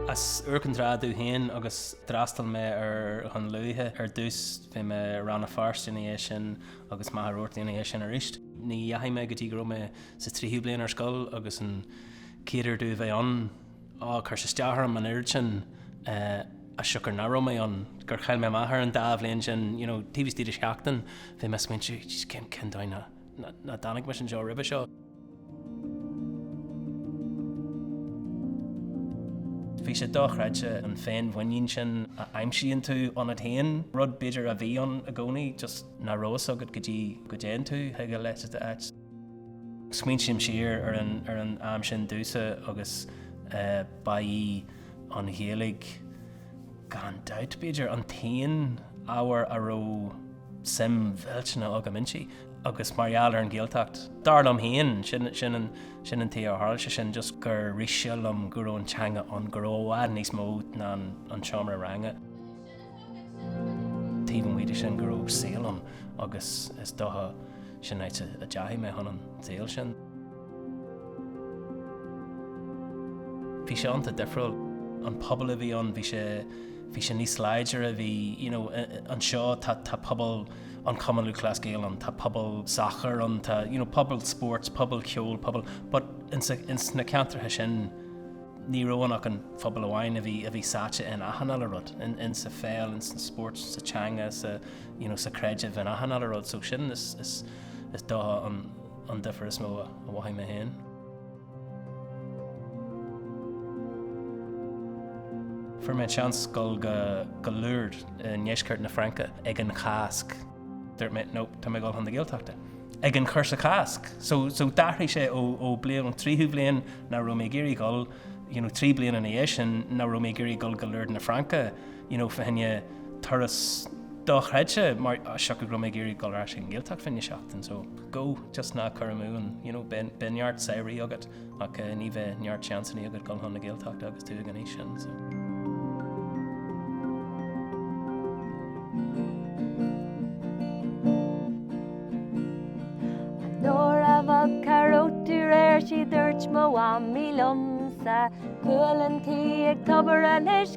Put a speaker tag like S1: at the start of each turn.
S1: As Iúr Cinn Trá domh féin agus d'fhreastail mé ar Dhún Lúiche ar dtús, bhí mé i Rann na Feirste ina dhiaidh sin agus Machaire Rabhartaigh ina dhiaidh sin arís. Ní dheachaigh mé go dtí go raibh mé sa tríú bliain ar scoil agus an chéad uair domh a bheith ann, á, chuir sé isteach orm an oiread sin, as siocair nach raibh mé ann, gur chaill mé amach ar an dá bhliain sin, you know, taobh istigh de sheachtain bhí mé ag smaointiú, jeez, cén, cén dóigh nach. Nach dtáinig mise anseo roimhe seo. Bhí sé dochreidte an féinmhuinín sin a aimsíonn tú ionat féin, rud b'fhéidir a bhí ann i gcónaí just nach raibh a fhios agat go dtí go dtéann tú chuig a leithéid d'áit. Smaointím siar ar an am sin domhsa agus ba í an Ghaeilge gan dabht b'fhéidir an t-aon ábhar a raibh, suim mhillteanach agam inti agus mar gheall ar an Ghaeltacht, dar liom féin, sin an tuige ar tharla sé sin, just gur rith sé liom go raibh an teanga ann, go raibh i bhfad níos mó ná an seomra ranga. Taobh amuigh de sin go raibh saol ann agus is dócha sin áit a dteachaigh mé chun an tsaoil sin. Bhí sé iontach difriúil. An pobal a bhí ann, bhí sé, bhí sé níos láidre, bhí, you know, anseo tá, tá pobal an Chumann Lúthchleas Gael ann, tá pobal sacair ann, tá, you know, pobal spóirt, pobal ceoil, pobal, but in sa, in sna ceantracha sin, ní raibh ann ach aon phobal amháin a bhí, a bhí sáite in achan uile rud, in, in sa pheil, in san spóirt, sa teanga, sa, you know, sa creideamh, in achan uile rud. So sin is, is, is dócha an, an difear is mó a mhothaigh mé féin. Fuair mé seans dul go go Lourdes i ndeisceart na Fraince ag an Chásc. Dúirt mé no, tá mé ag dul chun na Gaeltachta. Ag an chúrsa Cásc, so d'athraigh sé ó bliain an tríú bliain nach raibh mé ag iarraidh dul, you know trí bliana ina dhiaidh sin nach raibh mé ag iarraidh dul go Lourdes na Fraince. you know, fá choinne turas dochreidte, mar as siocair go raibh mé ag iarraidh dul ar ais ag an nGaeltacht fá choinne seachtain, so go, just ná cuir amú an, you know, beidh, beidh neart samhraidh agat, ach ní bheidh neart seansannaí agat dul chun na Gaeltachta agus tú ag an aois sin, so. An uair a bhog Carruth
S2: de réir sí dúirt mo mhamaí liom-sa, 'Cualann tí ag tobar anois,